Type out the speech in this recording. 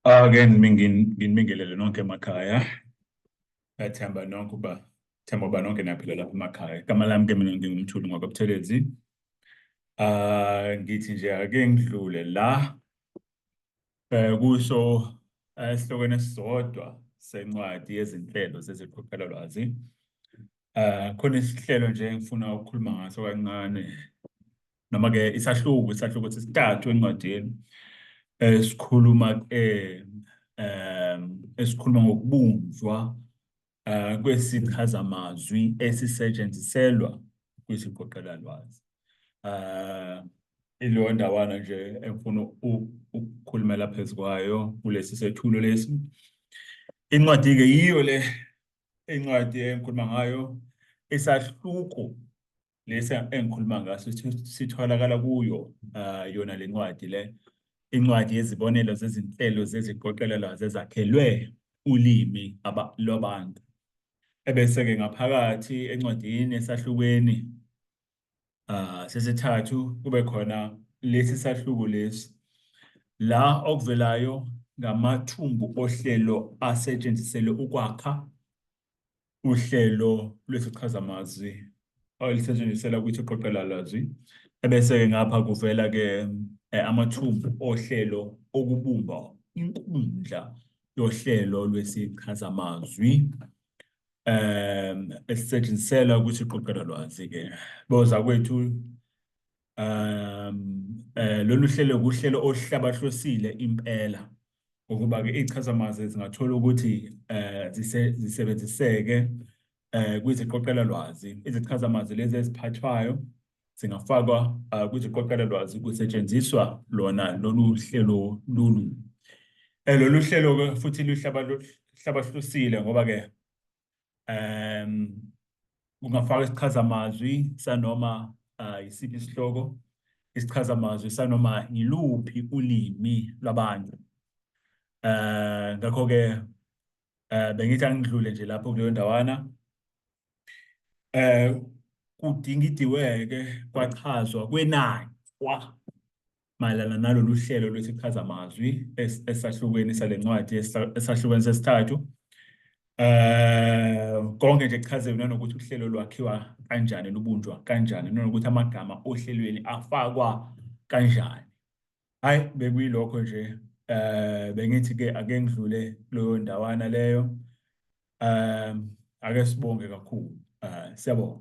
Again, ah, nginibingelele nonke emakhaya. Ngethemba nonke uba themba uba nonke niyaphila lapha emakhaya. Igama lami ke mina ngingumthuli ngwakwaButhelezi. Ah, ngithi nje ake ngidlule la eh kusho eh, esihlokweni esisodwa sencwadi yezinhlelo zeziqophelo lwazi. Ah, khona isihlelo nje engifuna ukukhuluma ngaso kancane noma ke isahluko isahluko sesithathu encwadini eh, esikhuluma ke eh, esikhuluma ngokubunjwa eh, kwesichazamazwi esisetshenziselwa kwisiqoqela lwazi eh ilo ndawana nje engifuna ukukhulumela phezu kwayo kulesi sethulo lesi incwadi ke yiyo le incwadi engikhuluma ngayo isahluko lesi engikhuluma ngaso sitholakala kuyo uh, yona le ncwadi le incwadi yezibonelo zezinhlelo zeziqoqelelo zezakhelwe ulimi lwabantu ebese-ke ngaphakathi encwadini esahlukweni uh, sesithathu kube khona lesi sahluko lesi la okuvelayo ngamathumbu ohlelo asetshenziselwe ukwakha uhlelo lwesichazamazwi olisetshenziselwa ukuthi uqoqela lwazwi ebese-ke ngapha kuvela-ke eh, amathumbu ohlelo okubumba inkundla yohlelo lwesichazamazwi um esisetshenziselwa ukuthi iqoqela lwazi-ke boza kwethu um eh, lolu hlelo kuhlelo oluhlabahlosile impela ukuba-ke iy'chazamazwi zingathola ukuthi um zisebenziseke um kwiziqoqelalwazi izichazamazwi lezi eziphathwayo zingafakwa um kwiziqoqelalwazi kusetshenziswa lona lolu hlelo lolu um lolu hlelo-ke futhi luhlabahlusile ngoba-ke um ungafaka isichazamazwi sanoma uh, isiphi isihloko isichazamazwi sanoma yiluphi ulimi lwabantu um ngakho-ke um bengithi angidlule nje lapho kuleyo ndawana um kudingidiweke kwachazwa kwenanywa mayelana nalolu hlelo lwesichazamazwi esahlukweni sale ncwadi esahlukweni sesithathu um konke nje kuchazelwe nanokuthi uhlelo lwakhiwa kanjani lubunjwa kanjani nanokuthi amagama ohlelweni afakwa kanjani hhayi bekuyilokho nje um bengithi-ke ake ngidlule kuleyo ndawana leyo um ake sibonge kakhulu um siyabonga